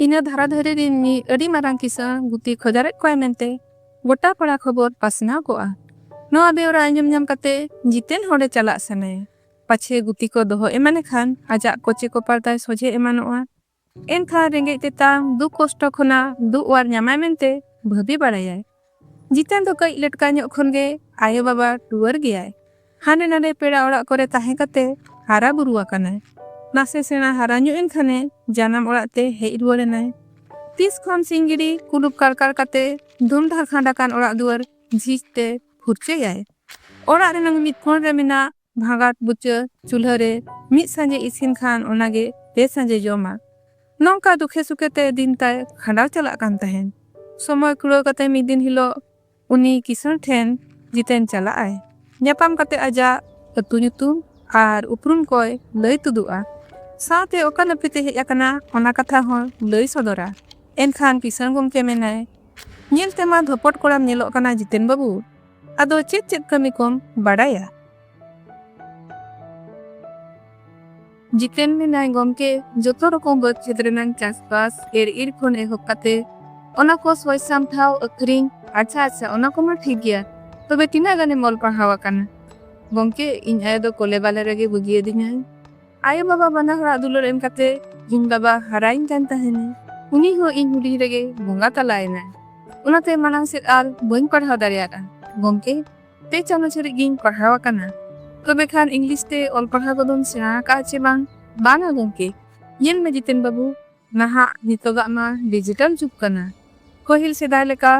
ᱤᱱᱟᱹ ᱫᱷᱟᱨᱟ ᱫᱷᱟᱹᱨᱤ ᱨᱤᱱ ᱢᱤᱫ ᱟᱹᱰᱤ ᱢᱟᱨᱟᱝ ᱠᱤᱥᱟᱹᱬ ᱜᱩᱛᱤ ᱠᱷᱚᱡᱟᱨᱮᱫ ᱠᱚᱣᱟᱭ ᱢᱮᱱᱛᱮ ᱜᱚᱴᱟ ᱯᱟᱲᱟ ᱠᱷᱚᱵᱚᱨ ᱯᱟᱥᱱᱟᱣ ᱠᱚᱜᱼᱟ᱾ ᱱᱚᱣᱟ ᱵᱮᱣᱨᱟ ᱟᱸᱡᱚᱢ ᱧᱟᱢ ᱠᱟᱛᱮ ᱡᱤᱛᱮᱱ ᱦᱚᱲᱮ ᱪᱟᱞᱟᱜ ᱥᱟᱱᱟᱭᱟ᱾ ᱯᱟᱪᱷᱮ ᱜᱩᱛᱤ ᱠᱚ ᱫᱚᱦᱚ ᱮᱢᱟᱱ ᱮᱠᱷᱟᱱ ᱟᱡᱟᱜ ᱠᱚᱪᱮ ᱠᱚᱯᱟᱨ ᱛᱟᱭ ᱥᱚᱡᱷᱮ ᱮᱢᱟᱱᱚᱜᱼᱟ᱾ ᱮᱱᱠᱷᱟᱱ ᱨᱮᱸᱜᱮᱡ ᱛᱮᱛᱟᱝ ᱫᱩᱠ ᱠᱚᱥᱴᱚ ᱠᱷᱚᱱᱟᱜ ᱫᱩᱜ ᱚᱣᱟᱨ ᱧᱟᱢᱟᱭ ᱢᱮᱱᱛᱮ ᱵᱷᱟᱹᱵᱤ ᱵᱟᱲᱟᱭᱟᱭ᱾ ᱡᱤᱛᱮᱱ ᱫᱚ ᱠᱟᱹᱡ ᱞᱮᱴᱠᱟ ᱧᱚᱜ ᱠᱷᱚᱱ ᱜᱮ ᱟᱭᱳ ᱵᱟᱵᱟ ᱴᱩᱣᱟᱹᱨ ᱜᱮᱭᱟᱭ᱾ ᱦᱟᱸᱰᱮ ᱱᱟᱸᱰᱮ ᱯᱮᱲᱟ ᱚᱲᱟᱜ ᱠᱚᱨᱮ ᱛᱟᱦᱮᱸ ᱠᱟᱛᱮ ᱦᱟᱨᱟ ᱵᱩᱨᱩ ᱟᱠᱟᱱᱟᱭ᱾ ᱱᱟᱥᱮ ᱥᱮᱬᱟ ᱦᱟᱨᱟ ᱧᱚᱜ ᱮᱱ ᱠᱷᱟᱱᱮ ᱡᱟᱱᱟᱢ ᱚᱲᱟᱜ ᱛᱮ ᱦᱮᱡ ᱨᱩᱣᱟᱹᱲ ᱮᱱᱟᱭ᱾ ᱛᱤᱥ ᱠᱷᱚᱱ ᱥᱤᱧ ᱜᱮᱰᱤ ᱠᱩᱞᱩᱯ ᱠᱟᱲᱠᱟᱲ ᱠᱟᱛᱮ ᱫᱷᱩᱢᱫᱷᱟᱲ ᱠᱷᱟᱸᱰ ᱟᱠᱟᱱ ᱚᱲᱟᱜ ᱫᱩᱣᱟᱹᱨ ᱡᱷᱤᱡ ᱛᱮ ᱯᱷᱩᱨᱪᱟᱹᱭᱟᱭ᱾ ᱚᱲᱟᱜ ᱨᱮᱱᱟᱝ ᱢᱤᱫ ᱠᱚᱬ ᱨᱮ ᱢᱮᱱᱟᱜ ᱵᱷᱟᱜᱟᱴ ᱵᱩᱪᱟᱹ ᱪᱩᱞᱦᱟᱹ ᱨᱮ ᱢᱤᱫ ᱥᱟᱸᱡᱮ ᱤᱥᱤᱱ ᱠᱷᱟᱱ ᱚᱱᱟ ᱜᱮ ᱯᱮ ᱥᱟᱸᱡᱮ ᱡᱚᱢᱟ᱾ ᱱᱚᱝᱠᱟ ᱫᱩᱠᱷᱮ ᱥᱩᱠᱷᱮ ᱛᱮ ᱫᱤᱱ ᱛᱟᱭ ᱠᱷᱟᱸᱰᱟᱣ ᱪᱟᱞᱟᱜ ᱠᱟᱱ ᱛᱟᱦᱮᱸᱱ᱾ ᱥᱚᱢᱚᱭ ᱠᱩᱲᱟᱹᱣ ᱠᱟᱛᱮ ᱢᱤᱫ ᱫᱤᱱ ᱦᱤᱞᱚᱜ ᱩᱱᱤ ᱠᱤᱥᱟᱹᱬ ᱴᱷᱮᱱ ᱡᱤᱛᱮᱱ ᱪᱟᱞᱟᱜ ᱟᱭ᱾ ᱧᱟᱯᱟᱢ ᱠᱟᱛᱮ ᱟᱡᱟᱜ ᱟᱹᱛᱩ ᱧᱩᱛᱩᱢ ᱟᱨ ᱩᱯᱨᱩᱢ ᱠᱚᱭ ᱞᱟᱹᱭ ᱛᱩᱫᱩᱜᱼᱟ᱾ ᱥᱟᱶᱛᱮ ᱚᱠᱟ ᱱᱟᱹᱯᱤᱛ ᱮ ᱦᱮᱡ ᱟᱠᱟᱱᱟ ᱚᱱᱟ ᱠᱟᱛᱷᱟ ᱦᱚᱸᱭ ᱞᱟᱹᱭ ᱥᱚᱫᱚᱨᱟ᱾ ᱮᱱᱠᱷᱟᱱ ᱠᱤᱥᱟᱹᱬ ᱜᱚᱢᱠᱮ ᱢᱮᱱᱟᱭ, ᱧᱮᱞ ᱛᱮᱢᱟ ᱫᱷᱚᱯᱚᱴ ᱠᱚᱲᱟᱢ ᱧᱮᱞᱚᱜ ᱠᱟᱱᱟ ᱡᱤᱛᱮᱱ ᱵᱟᱹᱵᱩ᱾ ᱟᱫᱚ ᱪᱮᱫ ᱪᱮᱫ ᱠᱟᱹᱢᱤ ᱠᱚᱢ ᱵᱟᱰᱟᱭᱟ? ᱡᱤᱛᱮᱱ ᱢᱮᱱᱟᱭ ᱜᱚᱢᱠᱮ ᱡᱚᱛᱚ ᱨᱚᱠᱚᱢ ᱵᱟᱹᱫᱽ ᱠᱷᱮᱛ ᱨᱮᱱᱟᱝ ᱪᱟᱥᱵᱟᱥ ᱮᱨ ᱤᱨ ᱠᱷᱚᱱ ᱮᱦᱚᱵ ᱠᱟᱛᱮ ᱚᱱᱟ ᱠᱚ ᱥᱚᱭ ᱥᱟᱢᱴᱷᱟᱣ ᱟᱹᱠᱷᱨᱤᱧ ᱟᱪᱪᱷᱟ ᱟᱪᱪᱷᱟ ᱚᱱᱟ ᱠᱚᱢᱟ ᱴᱷᱤᱠ ᱜᱮᱭᱟ ᱛᱚᱵᱮ ᱛᱤᱱᱟᱹᱜ ᱜᱟᱱᱮᱢ ᱚᱞ ᱯᱟᱲᱦᱟᱣ ᱟᱠᱟᱱᱟ ᱜᱚᱢᱠᱮ ᱤᱧ ᱟᱭᱳ ᱫᱚ ᱠᱚᱞᱮ ᱵᱟᱞᱮ ᱨᱮᱜᱮ ᱵᱟᱹᱜᱤᱭᱟᱹᱫᱤᱧᱟᱭ ᱟᱭᱳ ᱵᱟᱵᱟ ᱵᱟᱱᱟ ᱦᱚᱲᱟᱜ ᱫᱩᱞᱟᱹᱲ ᱮᱢ ᱠᱟᱛᱮ ᱤᱧ ᱵᱟᱵᱟ ᱦᱟᱨᱟᱭᱤᱧ ᱠᱟᱱ ᱛᱟᱦᱮᱱᱟ ᱩᱱᱤ ᱦᱚᱸ ᱤᱧ ᱦᱩᱰᱤᱧ ᱨᱮᱜᱮ ᱵᱚᱸᱜᱟ ᱛᱟᱞᱟᱭᱮᱱᱟᱭ ᱚᱱᱟᱛᱮ ᱢᱟᱲᱟᱝ ᱥᱮᱫ ᱟᱨ ᱵᱟᱹᱧ ᱯᱟᱲᱦᱟᱣ ᱫᱟᱲᱮᱭᱟᱫᱟ ᱜᱚᱢᱠᱮ ᱯᱮ ᱪᱟᱱᱟᱪ ᱦᱟᱹᱨᱤᱡ ᱜᱤᱧ ᱯᱟᱲᱦᱟᱣ ᱟᱠᱟᱱᱟ ᱛᱚᱵᱮ ᱠᱷᱟᱱ ᱤᱝᱞᱤᱥ ᱛᱮ ᱚᱞ ᱯᱟᱲᱦᱟᱣ ᱠᱚᱫᱚᱢ ᱥᱮᱬᱟ ᱟᱠᱟᱫᱼᱟ ᱪᱮ ᱵᱟᱝ ᱵᱟᱝᱟ ᱜᱚᱢᱠᱮ ᱧᱮᱞ ᱢᱮ ᱡᱤᱛᱮᱱ ᱵᱟᱹᱵᱩ ᱱᱟᱦᱟᱜ ᱱᱤᱛᱚᱜᱟᱜ ᱢᱟ ᱰᱤᱡᱤᱴᱟᱞ ᱡᱩᱜᱽ ᱠᱟᱱᱟ᱾ ᱯᱟᱹᱦᱤᱞ ᱥᱮᱫᱟᱭ ᱞᱮᱠᱟ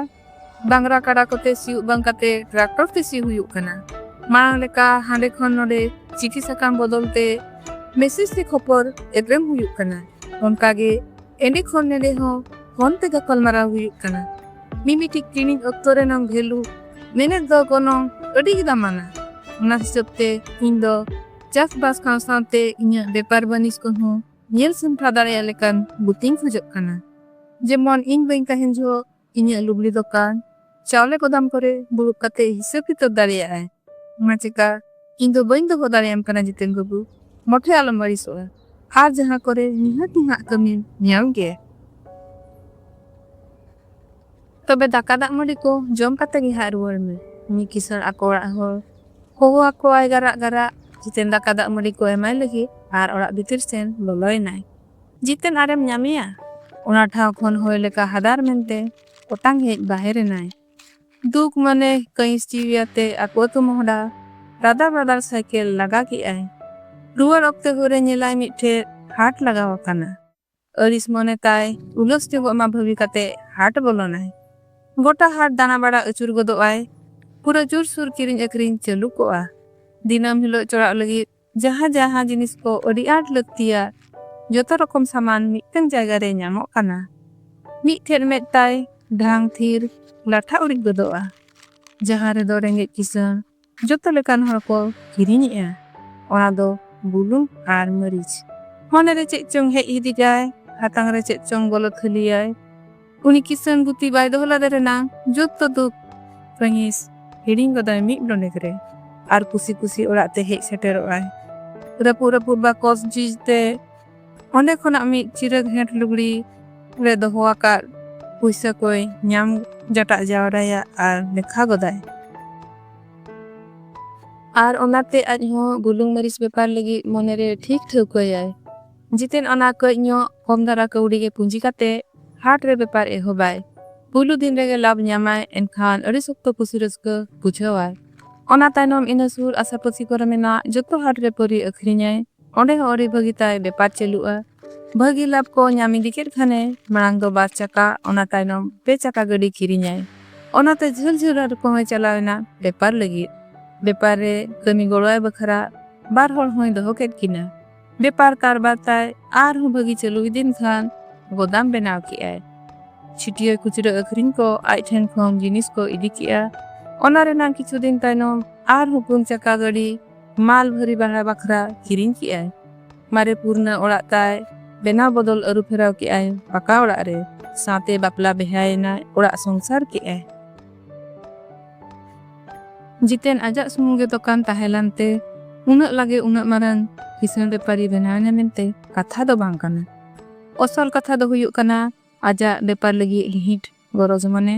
ᱰᱟᱝᱨᱟ ᱠᱟᱰᱟ ᱠᱚᱛᱮ ᱥᱤᱭᱩᱜ ᱵᱟᱝ ᱠᱟᱛᱮ ᱴᱨᱟᱠᱴᱚᱨ ᱛᱮ ᱥᱤ ᱦᱩᱭᱩᱜ ᱠᱟᱱᱟ᱾ ᱢᱟᱲᱟᱝ ᱞᱮᱠᱟ ᱦᱟᱸᱰᱮ ᱠᱷᱚᱱ ᱱᱚᱸᱰᱮ ᱪᱤᱴᱷᱤ ᱥᱟᱠᱟᱢ ᱵᱚᱫᱚᱞ ᱛᱮ ᱢᱮᱥᱮᱡᱽ ᱛᱮ ᱠᱷᱚᱯᱚᱨ ᱮᱯᱮᱢ ᱦᱩᱭᱩᱜ ᱠᱟᱱᱟ᱾ ᱚᱱᱠᱟ ᱜᱮ ᱮᱸᱰᱮ ᱠᱷᱚᱱ ᱱᱮᱸᱰᱮ ᱦᱚᱸ ᱯᱷᱚᱱ ᱛᱮ ᱜᱟᱯᱟᱞᱢᱟᱨᱟᱣ ᱦᱩᱭᱩᱜ ᱠᱟᱱᱟ᱾ ᱢᱤᱢᱤᱴᱤᱡ ᱠᱤᱨᱤᱧ ᱚᱠᱛᱚ ᱨᱮᱱᱟᱝ ᱵᱷᱮᱞᱩ ᱢᱮᱱᱮᱫ ᱫᱚ ᱜᱚᱱᱚᱝ ᱟᱹᱰᱤ ᱜᱮ ᱫᱟᱢᱟᱱᱟ᱾ ᱚᱱᱟ ᱦᱤᱥᱟᱹᱵᱽ ᱛᱮ ᱤᱧ ᱫᱚ ᱪᱟᱥ ᱵᱟᱥ ᱥᱟᱶ ᱥᱟᱶᱛᱮ ᱤᱧᱟᱹᱜ ᱵᱮᱯᱟᱨ ᱵᱟᱹᱱᱤᱡᱽ ᱠᱚᱦᱚᱸ ᱧᱮᱞ ᱥᱟᱢᱴᱟᱣ ᱫᱟᱲᱮᱭᱟᱜ ᱞᱮᱠᱟᱱ ᱵᱩᱛᱤᱧ ᱠᱷᱚᱡᱚᱜ ᱠᱟᱱᱟ᱾ ᱡᱮᱢᱚᱱ ᱤᱧ ᱵᱟᱹᱧ ᱛᱟᱦᱮᱱ ᱡᱚᱦᱚᱜ ᱤᱧᱟᱹᱜ ᱞᱩᱜᱽᱲᱤ ᱫᱚᱠᱟᱱ, ᱪᱟᱣᱞᱮ ᱜᱚᱫᱟᱢ ᱠᱚᱨᱮ ᱫᱩᱲᱩᱵ ᱠᱟᱛᱮ ᱦᱤᱥᱟᱹᱵᱽ ᱠᱤᱛᱟᱹᱵᱽ ᱫᱟᱲᱮᱭᱟᱜ ᱟᱭ᱾ ᱚᱱᱟ ᱪᱮᱠᱟ ᱤᱧ ᱫᱚ ᱵᱟᱹᱧ ᱫᱚᱦᱚ ᱫᱟᱲᱮᱭᱟᱢ ᱠᱟᱱᱟ ᱡᱤᱛᱮᱱ ᱵᱟᱹᱵᱩ᱾ ᱢᱚᱴᱷᱮ ᱟᱞᱚᱢ ᱟᱹᱲᱤᱥᱚᱜᱼᱟ᱾ ᱟᱨ ᱡᱟᱦᱟᱸ ᱠᱚᱨᱮ ᱱᱤᱦᱟᱹᱛᱤ ᱦᱟᱸᱜ ᱠᱟᱹᱢᱤᱢ ᱧᱟᱢ ᱜᱮᱭᱟ᱾ ᱛᱚᱵᱮ ᱫᱟᱠᱟ ᱫᱟᱜ ᱢᱟᱹᱰᱤ ᱠᱚ ᱡᱚᱢ ᱠᱟᱛᱮ ᱜᱮ ᱦᱟᱸᱜ ᱨᱩᱣᱟᱹᱲ ᱢᱮ᱾ ᱢᱤᱫ ᱠᱤᱥᱟᱹᱬ ᱟᱠᱚ ᱚᱲᱟᱜ ᱦᱚᱲ ᱦᱚᱦᱚ ᱟᱠᱚᱣᱟᱭ ᱜᱟᱨᱟᱜ ᱜᱟᱨᱟᱜ᱾ ᱡᱤᱛᱮᱱ ᱫᱟᱠᱟ ᱫᱟᱜ ᱢᱟᱹᱰᱤ ᱠᱚ ᱮᱢᱟᱭ ᱞᱟᱹᱜᱤᱫ ᱟᱨ ᱚᱲᱟᱜ ᱵᱷᱤᱛᱤᱨ ᱥᱮᱱ ᱵᱚᱞᱚᱭᱮᱱᱟᱭ᱾ ᱡᱤᱛᱮᱱ ᱟᱨᱮᱢ ᱧᱟᱢᱮᱭᱟ᱾ ᱚᱱᱟ ᱴᱷᱟᱶ ᱠᱷᱚᱱ ᱦᱚᱭ ᱞᱮᱠᱟ ᱦᱟᱫᱟᱨ ᱢᱮᱱᱛᱮ ᱚᱴᱟᱝ ᱦᱮᱡ ᱵᱟᱦᱮᱨ ᱮᱱᱟᱭ᱾ ᱫᱩᱠ ᱢᱚᱱᱮ ᱠᱟᱺᱭᱤᱥ ᱡᱤᱣᱤ ᱟᱛᱮ ᱟᱠᱚ ᱟᱹᱛᱩ ᱢᱚᱦᱰᱟ ᱨᱟᱫᱟᱲ ᱨᱟᱫᱟᱲ ᱥᱟᱭᱠᱮᱞ ᱞᱟᱜᱟ ᱠᱮᱫᱼᱟᱭ᱾ ᱨᱩᱣᱟᱹᱲ ᱚᱠᱛᱮ ᱦᱚᱨ ᱨᱮ ᱧᱮᱞᱟᱭ ᱢᱤᱫᱴᱷᱮᱫ ᱦᱟᱴ ᱞᱟᱜᱟᱣ ᱟᱠᱟᱱᱟ᱾ ᱟᱹᱲᱤᱥ ᱢᱚᱱᱮ ᱛᱟᱭ ᱩᱞᱟᱹᱥ ᱧᱚᱜᱚᱜ ᱢᱟ ᱵᱷᱟᱹᱵᱤ ᱠᱟᱛᱮ ᱦᱟᱴ ᱵᱚᱞᱚᱱᱟᱭ᱾ ᱜᱚᱴᱟ ᱦᱟᱴ ᱫᱟᱬᱟ ᱵᱟᱲᱟ ᱟᱹᱪᱩᱨ ᱜᱚᱫᱚᱜ ᱟᱭ᱾ ᱯᱩᱨᱟᱹ ᱡᱩᱨ ᱥᱩᱨ ᱠᱤᱨᱤᱧ ᱟᱹᱠᱷᱨᱤᱧ ᱪᱟᱹᱞᱩ ᱠᱚᱜᱼᱟ᱾ ᱫᱤᱱᱟᱹᱢ ᱦᱤᱞᱚᱜ ᱪᱚᱲᱟᱜ ᱞᱟᱹᱜᱤᱫ ᱡᱟᱦᱟᱸ ᱡᱟᱦᱟᱸ ᱡᱤᱱᱤᱥ ᱠᱚ ᱟᱹᱰᱤ ᱟᱸᱴ ᱞᱟᱹᱠᱛᱤᱭᱟ ᱡᱚᱛᱚ ᱨᱚᱠᱚᱢ ᱥᱟᱢᱟᱱ ᱢᱤᱫᱴᱟᱹᱝ ᱡᱟᱭᱜᱟ ᱨᱮ ᱧᱟᱢᱚᱜ ᱠᱟᱱᱟ᱾ ᱢᱤᱫ ᱴᱷᱮᱫ ᱢᱮᱫ ᱛᱟᱭ ᱰᱷᱟᱝ ᱛᱷᱤᱨ ᱞᱟᱴᱷᱟ ᱩᱨᱤᱡ ᱜᱚᱫᱚᱜᱼᱟ᱾ ᱡᱟᱦᱟᱸ ᱨᱮᱫᱚ ᱨᱮᱸᱜᱮᱡ ᱠᱤᱥᱟᱹᱬ ᱡᱚᱛᱚ ᱞᱮᱠᱟᱱ ᱦᱚᱲ ᱠᱚ ᱦᱤᱨᱤᱧᱮᱜᱼᱟ ᱚᱱᱟ ᱫᱚ ᱵᱩᱞᱩᱝ ᱟᱨ ᱢᱟᱹᱨᱤᱪ᱾ ᱢᱚᱱᱮ ᱨᱮ ᱪᱮᱫ ᱪᱚᱝ ᱦᱮᱡ ᱦᱤᱫᱤᱡᱟᱭ, ᱦᱟᱛᱟᱝ ᱨᱮ ᱪᱮᱫ ᱪᱚᱝ ᱵᱚᱞᱚ ᱛᱷᱟᱹᱞᱤᱭᱟᱭ᱾ ᱩᱱᱤ ᱠᱤᱥᱟᱹᱬ ᱜᱩᱛᱤ ᱵᱟᱭ ᱫᱚᱦᱚ ᱞᱟᱫᱮ ᱨᱮᱱᱟᱝ ᱡᱚᱛᱚ ᱫᱩᱠ, ᱠᱟᱺᱦᱤᱥ ᱦᱤᱲᱤᱧ ᱜᱚᱫᱟᱭ ᱢᱤᱫ ᱰᱚᱸᱰᱮᱠ ᱨᱮ ᱟᱨ ᱠᱩᱥᱤ ᱠᱩᱥᱤ ᱚᱲᱟᱜ ᱛᱮ ᱦᱮᱡ ᱥᱮᱴᱮᱨᱚᱜᱼᱟᱭ᱾ ᱨᱟᱹᱯᱩᱫ ᱨᱟᱹᱯᱩᱫ ᱵᱟᱠᱚᱥ ᱡᱷᱤᱡ ᱛᱮ᱾ ᱚᱸᱰᱮ ᱠᱷᱚᱱᱟᱜ ᱢᱤᱫ ᱪᱤᱨᱟᱹ ᱜᱷᱮᱸᱴ ᱞᱩᱜᱽᱲᱤ ᱨᱮ ᱫᱚᱦᱚ ᱟᱠᱟᱫ ᱯᱩᱭᱥᱟᱹ ᱠᱚᱭ ᱧᱟᱢ ᱡᱟᱴᱟᱜ ᱡᱟᱣᱨᱟᱭᱟ ᱟᱨ ᱞᱮᱠᱷᱟ ᱜᱚᱫᱟᱭ ᱟᱨ ᱚᱱᱟᱛᱮ ᱟᱡ ᱦᱚᱸ ᱵᱩᱞᱩᱝ ᱢᱟᱹᱨᱤᱪ ᱵᱮᱯᱟᱨ ᱞᱟᱹᱜᱤᱫ ᱢᱚᱱᱮᱨᱮ ᱴᱷᱤᱠ ᱴᱷᱟᱹᱣᱠᱟᱹᱭᱟᱭ ᱡᱤᱛᱮᱱ ᱚᱱᱟ ᱠᱟᱹᱡ ᱧᱚᱜ ᱠᱚᱢ ᱫᱷᱟᱨᱟ ᱠᱟᱹᱣᱰᱤ ᱜᱮ ᱯᱩᱸᱡᱤ ᱠᱟᱛᱮ ᱦᱟᱴ ᱨᱮ ᱵᱮᱯᱟᱨ ᱮᱦᱚᱵᱟᱭ ᱯᱩᱭᱞᱩ ᱫᱤᱱ ᱨᱮᱜᱮ ᱞᱟᱵᱷ ᱧᱟᱢᱟᱭ ᱮᱱᱠᱷᱟᱱ ᱟᱹᱰᱤ ᱥᱚᱠᱛᱚ ᱠᱩᱥᱤ ᱨᱟᱹᱥᱠᱟᱹ ᱵᱩᱡᱷᱟᱹᱣᱟᱭ ᱚᱱᱟ ᱛᱟᱭᱱᱚᱢ ᱤᱱᱟᱹ ᱥᱩᱨ ᱟᱥᱟᱯᱟᱹᱥᱤ ᱠᱚᱨᱮ ᱢᱮᱱᱟᱜ ᱡᱚᱛᱚ ᱦᱟᱴ ᱨᱮ ᱯᱟᱹᱨᱤ ᱟᱹᱠᱷᱨᱤᱧᱟᱭ ᱚᱸᱰᱮ ᱦᱚᱸ ᱟᱹᱰᱤ ᱵᱷᱟᱹᱜᱤ ᱛᱟᱭ ᱵᱮᱯᱟᱨ ᱪᱟᱹᱞᱩᱜᱼᱟ᱾ ᱵᱷᱟᱹᱜᱤ ᱞᱟᱵᱷ ᱠᱚ ᱧᱟᱢ ᱤᱫᱤ ᱠᱮᱫ ᱠᱷᱟᱱᱮ ᱢᱟᱲᱟᱝ ᱫᱚ ᱵᱟᱨ ᱪᱟᱠᱟ ᱚᱱᱟ ᱛᱟᱭᱱᱚᱢ ᱯᱮ ᱪᱟᱠᱟ ᱜᱟᱹᱰᱤ ᱠᱤᱨᱤᱧᱟᱭ᱾ ᱚᱱᱟᱛᱮ ᱡᱷᱟᱹᱞ ᱡᱷᱟᱹᱞ ᱟᱹᱛᱩ ᱠᱚᱦᱚᱸᱭ ᱪᱟᱞᱟᱣ ᱮᱱᱟ ᱵᱮᱯᱟᱨ ᱞᱟᱹᱜᱤᱫ᱾ ᱵᱮᱯᱟᱨ ᱨᱮ ᱠᱟᱹᱢᱤ ᱜᱚᱲᱚᱣᱟᱭ ᱵᱟᱠᱷᱨᱟ ᱵᱟᱨ ᱦᱚᱲ ᱦᱚᱸᱭ ᱫᱚᱦᱚ ᱠᱮᱫ ᱠᱤᱱᱟ᱾ ᱵᱮᱯᱟᱨ ᱠᱟᱨᱵᱟᱨ ᱛᱟᱭ ᱟᱨ ᱦᱚᱸ ᱵᱷᱟᱹᱜᱤ ᱪᱟᱹᱞᱩ ᱤᱫᱤᱭᱮᱱ ᱠᱷᱟᱱ ᱜᱚᱫᱟᱢ ᱵᱮᱱᱟᱣ ᱠᱮᱫᱼᱟᱭ᱾ ᱪᱷᱤᱴᱭᱟᱹ ᱠᱷᱩᱪᱨᱟᱹ ᱟᱹᱠᱷᱨᱤᱧ ᱠᱚ ᱟᱡ ᱴᱷᱮᱱ ᱠᱷᱚᱱ ᱡᱤᱱᱤᱥ ᱠᱚ ᱤᱫᱤ ᱠᱮᱫᱼᱟ᱾ ᱚᱱᱟ ᱨᱮᱱᱟᱜ ᱠᱤᱪᱷᱩ ᱫᱤᱱ ᱛᱟᱭᱱᱚᱢ ᱟᱨ ᱦᱚᱸ ᱯᱩᱱ ᱪᱟᱠᱟ ᱜᱟᱹᱰᱤ᱾ ᱢᱟᱞ ᱵᱷᱟᱹᱨᱤ ᱵᱟᱲᱟ ᱵᱟᱠᱷᱨᱟ ᱠᱤᱨᱤᱧ ᱠᱮᱜ ᱟᱭ᱾ ᱢᱟᱨᱮ ᱯᱩᱨᱱᱟᱹ ᱚᱲᱟᱜ ᱛᱟᱭ ᱵᱮᱱᱟᱣ ᱵᱚᱫᱚᱞ ᱟᱹᱨᱩ ᱯᱷᱮᱨᱟᱣ ᱠᱮᱜ ᱟᱭ ᱯᱟᱠᱟ ᱚᱲᱟᱜ ᱨᱮ᱾ ᱥᱟᱶᱛᱮ ᱵᱟᱯᱞᱟ ᱵᱮᱦᱭᱟ ᱮᱱᱟᱭ ᱚᱲᱟᱜ ᱥᱚᱝᱥᱟᱨ ᱠᱮᱜ ᱟᱭ᱾ ᱡᱤᱛᱮᱱ ᱟᱡᱟᱜ ᱥᱩᱢᱩᱝ ᱜᱮ ᱫᱚᱠᱟᱱ ᱛᱟᱦᱮᱸ ᱞᱟᱱ ᱛᱮ ᱩᱱᱟᱹᱜ ᱞᱟᱜᱮ ᱩᱱᱟᱹᱜ ᱢᱟᱨᱟᱝ ᱠᱤᱥᱟᱹᱬ ᱵᱮᱯᱟᱨᱤ ᱵᱮᱱᱟᱣ ᱮᱱᱟ ᱢᱮᱱᱛᱮ ᱠᱟᱛᱷᱟ ᱫᱚ ᱵᱟᱝ ᱠᱟᱱᱟ᱾ ᱚᱥᱚᱞ ᱠᱟᱛᱷᱟ ᱫᱚ ᱦᱩᱭᱩᱜ ᱠᱟᱱᱟ ᱟᱡᱟᱜ ᱵᱮᱯᱟᱨ ᱞᱟᱹᱜᱤᱫ ᱜᱤᱦᱤᱴ ᱜᱚᱨᱚᱡᱽ ᱢᱚᱱᱮ᱾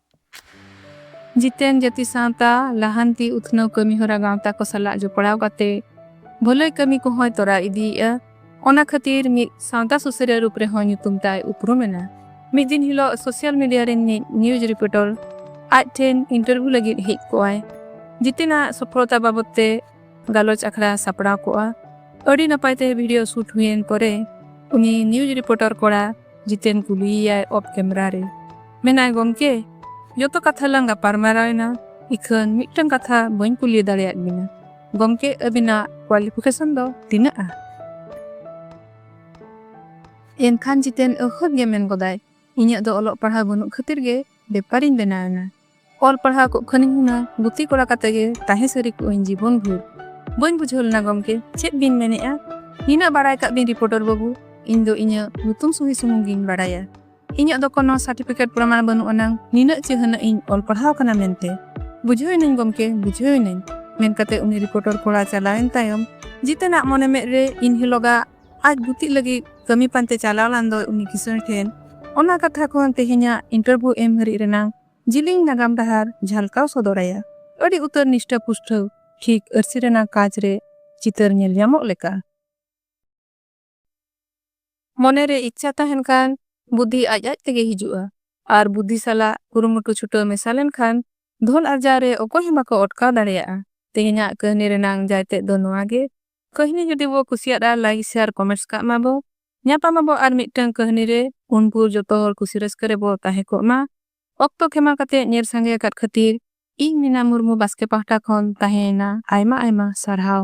ᱡᱤᱛᱮᱱ ᱡᱟᱹᱛᱤ ᱥᱟᱶᱛᱟ ᱞᱟᱦᱟᱱᱛᱤ ᱩᱛᱷᱱᱟᱹᱣ ᱠᱟᱹᱢᱤᱦᱚᱨᱟ ᱜᱟᱶᱛᱟ ᱠᱚ ᱥᱟᱞᱟᱜ ᱡᱚᱯᱚᱲᱟᱣ ᱠᱟᱛᱮ ᱵᱷᱟᱹᱞᱟᱹᱭ ᱠᱟᱹᱢᱤ ᱠᱚᱦᱚᱸᱭ ᱛᱚᱨᱟᱣ ᱤᱫᱤᱭᱮᱜᱼᱟ᱾ ᱚᱱᱟ ᱠᱷᱟᱹᱛᱤᱨ ᱢᱤᱫ ᱥᱟᱶᱛᱟ ᱥᱩᱥᱟᱹᱨᱤᱭᱟᱹ ᱨᱩᱯ ᱨᱮᱦᱚᱸ ᱧᱩᱛᱩᱢ ᱛᱟᱭ ᱩᱯᱨᱩᱢ ᱮᱱᱟ᱾ ᱢᱤᱫ ᱫᱤᱱ ᱦᱤᱞᱚᱜ ᱥᱚᱥᱤᱭᱟᱞ ᱢᱤᱰᱤᱭᱟ ᱨᱤᱱ ᱢᱤᱫ ᱱᱤᱭᱩᱡᱽ ᱨᱤᱯᱳᱴᱚᱨ ᱟᱡ ᱴᱷᱮᱱ ᱤᱱᱴᱚᱨᱵᱷᱤᱭᱩ ᱞᱟᱹᱜᱤᱫ ᱦᱮᱡ ᱠᱚᱜᱼᱟᱭ᱾ ᱡᱤᱛᱮᱱ ᱟᱜ ᱥᱚᱯᱷᱚᱞᱚᱛᱟ ᱵᱟᱵᱚᱛ ᱛᱮ᱾ ᱜᱟᱞᱚᱪ ᱟᱠᱷᱲᱟ ᱥᱟᱯᱲᱟᱣ ᱠᱚᱜᱼᱟ ᱟᱹᱰᱤ ᱱᱟᱯᱟᱭ ᱛᱮ ᱵᱷᱤᱰᱤᱭᱳ ᱥᱩᱴ ᱦᱩᱭᱮᱱ ᱯᱚᱨᱮ ᱩᱱᱤ ᱱᱤᱭᱩᱡᱽ ᱨᱤᱯᱳᱨᱴᱟᱨ ᱠᱚᱲᱟ ᱡᱤᱛᱮᱱ ᱠᱩᱞᱤᱭᱮᱭᱟᱭ ᱚᱯᱷ ᱠᱮᱢᱮᱨᱟ ᱨᱮ ᱢᱮᱱᱟᱭ ᱜᱚᱢᱠᱮ ᱡᱚᱛᱚ ᱠᱟᱛᱷᱟ ᱞᱟᱝ ᱜᱟᱯᱟᱞᱢᱟᱨᱟᱣ ᱮᱱᱟ ᱤᱠᱷᱟᱹᱱ ᱢᱤᱫᱴᱟᱝ ᱠᱟᱛᱷᱟ ᱵᱟᱹᱧ ᱠᱩᱞᱤ ᱫᱟᱲᱮᱭᱟᱫ ᱵᱤᱱᱟ ᱜᱚᱢᱠᱮ ᱟᱹᱵᱤᱱᱟᱜ ᱠᱣᱟᱞᱤᱯᱷᱤᱠᱮᱥᱚᱱ ᱫᱚ ᱛᱤᱱᱟᱹᱜᱼᱟ ᱮᱱᱠᱷᱟᱱ ᱡᱤᱛᱮᱱ ᱟᱹᱦᱟᱹᱵ ᱜᱮ ᱢᱮᱱ ᱜᱚᱫᱟᱭ ᱤᱧᱟᱹᱜ ᱫᱚ ᱚᱞᱚᱜ ᱯᱟᱲᱦᱟᱣ ᱵᱟᱹᱱᱩᱜ ᱠᱷᱟᱹᱛᱤᱨ ᱜᱮ ᱵᱮᱯᱟᱨᱤᱧ ᱵᱮᱱᱟᱣ ᱮᱱᱟ ᱚᱞ ᱯᱟᱲᱦᱟᱣ ᱠᱚᱜ ᱠᱷᱟᱹᱱᱤᱧ ᱦᱩᱱᱟᱹᱝ ᱜᱩᱛᱤ ᱠᱚᱲᱟ ᱠᱟᱛᱮ ᱜᱮ ᱛᱟᱦᱮᱸ ᱥᱟᱹᱨᱤ ᱠᱚᱜ ᱟᱹᱧ ᱡᱤᱵᱚᱱ ᱵᱷᱳᱨ ᱵᱟᱹᱧ ᱵᱩᱡᱷᱟᱹᱣ ᱞᱮᱱᱟ ᱜᱚᱢᱠᱮ ᱪᱮᱫ ᱵᱤᱱ ᱢᱮᱱᱮᱜᱼᱟ ᱱᱤᱱᱟᱹᱜ ᱵᱟᱲᱟᱭ ᱠᱟᱜ ᱵᱤᱱ ᱨᱤᱯᱳᱨᱴᱚᱨ ᱵᱟᱹᱵᱩ ᱤᱧ ᱫᱚ ᱤᱧᱟᱹᱜ ᱧᱩᱛᱩᱢ ᱥᱩᱦᱤ ᱥᱩᱢᱩᱝ ᱜᱤᱧ ᱵᱟᱲᱟᱭᱟ ᱤᱧᱟᱹᱜ ᱫᱚ ᱠᱳᱱᱳ ᱥᱟᱨᱴᱤᱯᱷᱤᱠᱮᱴ ᱯᱨᱚᱢᱟᱬ ᱵᱟᱹᱱᱩᱜ ᱟᱱᱟᱝ ᱱᱤᱱᱟᱹᱜ ᱪᱮᱦᱟᱹᱱᱟᱹᱜ ᱤᱧ ᱚᱞ ᱯᱟᱲᱦᱟᱣ ᱠᱟᱱᱟ ᱢᱮᱱᱛᱮ ᱵᱩᱡᱷᱟᱹᱣ ᱮᱱᱟᱹᱧ ᱜᱚᱢᱠᱮ ᱵᱩᱡᱷᱟᱹᱣ ᱮᱱᱟᱹᱧ ᱢᱮᱱ ᱠᱟᱛᱮ ᱩᱱᱤ ᱨᱤᱯᱳᱨᱴᱚᱨ ᱠᱚᱲᱟ ᱪᱟᱞᱟᱣᱮᱱ ᱛᱟᱭᱚᱢ ᱡᱤᱛᱮᱱᱟᱜ ᱢᱚᱱᱮ ᱢᱮᱫ ᱨᱮ ᱤᱱ ᱦᱤᱞᱚᱜᱟᱜ ᱟᱡ ᱜᱩᱛᱤᱜ ᱞᱟᱹᱜᱤᱫ ᱠᱟᱹᱢᱤ ᱯᱟᱱᱛᱮ ᱪᱟᱞᱟᱣ ᱞᱟᱱ ᱫᱚᱭ ᱩᱱᱤ ᱠᱤᱥᱟᱹᱬ ᱴᱷᱮᱱ ᱚᱱᱟ ᱠᱟᱛᱷᱟ ᱠᱷᱚᱱ ᱛᱮᱦᱮᱧᱟᱜ ᱤᱱᱴᱟᱨᱵᱷᱤᱭᱩ ᱮᱢ ᱦᱟᱹᱨᱤᱡ ᱨᱮᱱᱟᱝ ᱡᱤᱞᱤᱧ ᱱᱟᱜᱟᱢ ᱰᱟᱦᱟᱨ ᱡᱷᱟᱞᱠᱟᱣ ᱥᱚᱫᱚᱨ ᱟᱭᱟ᱾ ᱟᱹᱰᱤ ᱩᱛᱟᱹᱨ ᱱᱤᱥᱴᱟᱹ ᱯᱩᱥᱴᱷᱟᱹᱣ ᱴᱷᱤᱠ ᱟᱹᱨᱥᱤ ᱨᱮᱱᱟᱜ ᱠᱟᱸᱪ ᱨᱮ ᱪᱤᱛᱟᱹᱨ ᱧᱮᱞ ᱧᱟᱢᱚᱜ ᱞᱮᱠᱟ᱾ ᱢᱚᱱᱮ ᱨᱮ ᱤᱪᱪᱷᱟ ᱛᱟᱦᱮᱸᱱ ᱠᱷᱟᱱ ᱵᱩᱫᱷᱤ ᱟᱡ ᱟᱡ ᱛᱮᱜᱮ ᱦᱤᱡᱩᱜᱼᱟ ᱟᱨ ᱵᱩᱫᱷᱤ ᱥᱟᱞᱟᱜ ᱠᱩᱨᱩᱢᱩᱴᱩ ᱪᱷᱩᱴᱟᱹᱣ ᱢᱮᱥᱟ ᱞᱮᱱ ᱠᱷᱟᱱ ᱫᱷᱚᱱ ᱟᱨᱡᱟᱣ ᱨᱮ ᱚᱠᱚᱭ ᱦᱚᱸ ᱵᱟᱠᱚ ᱚᱴᱠᱟᱣ ᱫᱟᱲᱮᱭᱟᱜᱼᱟ᱾ ᱛᱮᱦᱮᱧᱟᱜ ᱠᱟᱹᱦᱱᱤ ᱨᱮᱱᱟᱝ ᱡᱟᱭᱛᱮᱫ ᱫᱚ ᱱᱚᱣᱟ ᱜᱮ ᱠᱟᱹᱦᱱᱤ ᱡᱩᱫᱤ ᱵᱚ ᱠᱩᱥᱤᱭᱟᱫ ᱟ ᱞᱟᱭᱤᱠ ᱥᱮᱭᱟᱨ ᱠᱚᱢᱮᱱᱴᱥ ᱠᱟᱜ ᱢᱟ ᱵᱚ ᱧᱟᱯᱟᱢ ᱟᱵᱚ ᱟᱨ ᱢᱤᱫᱴᱟᱝ ᱠᱟᱹᱦᱱᱤ ᱨᱮ ᱩᱱ ᱵᱷᱩᱨ ᱡᱚᱛᱚ ᱦᱚᱲ ᱠᱩᱥᱤ ᱨᱟᱹᱥᱠᱟᱹ ᱨᱮ ᱵᱚ ᱛᱟᱦᱮᱸ ᱠᱚᱜ ᱢᱟ ᱚᱠᱛᱚ ᱠᱷᱮᱢᱟ ᱠᱟᱛᱮ ᱧᱮᱞ ᱥᱟᱸᱜᱮ ᱟᱠᱟᱫ ᱠᱷᱟᱹᱛᱤᱨ ᱤᱧ ᱢᱤᱱᱟ ᱢᱩᱨᱢᱩ ᱵᱟᱥᱠᱮ ᱯᱟᱦᱴᱟ ᱠᱷᱚᱱ ᱛᱟᱦᱮᱸ ᱮᱱᱟ ᱟᱭᱢᱟ ᱟᱭᱢᱟ ᱥᱟᱨᱦᱟᱣ᱾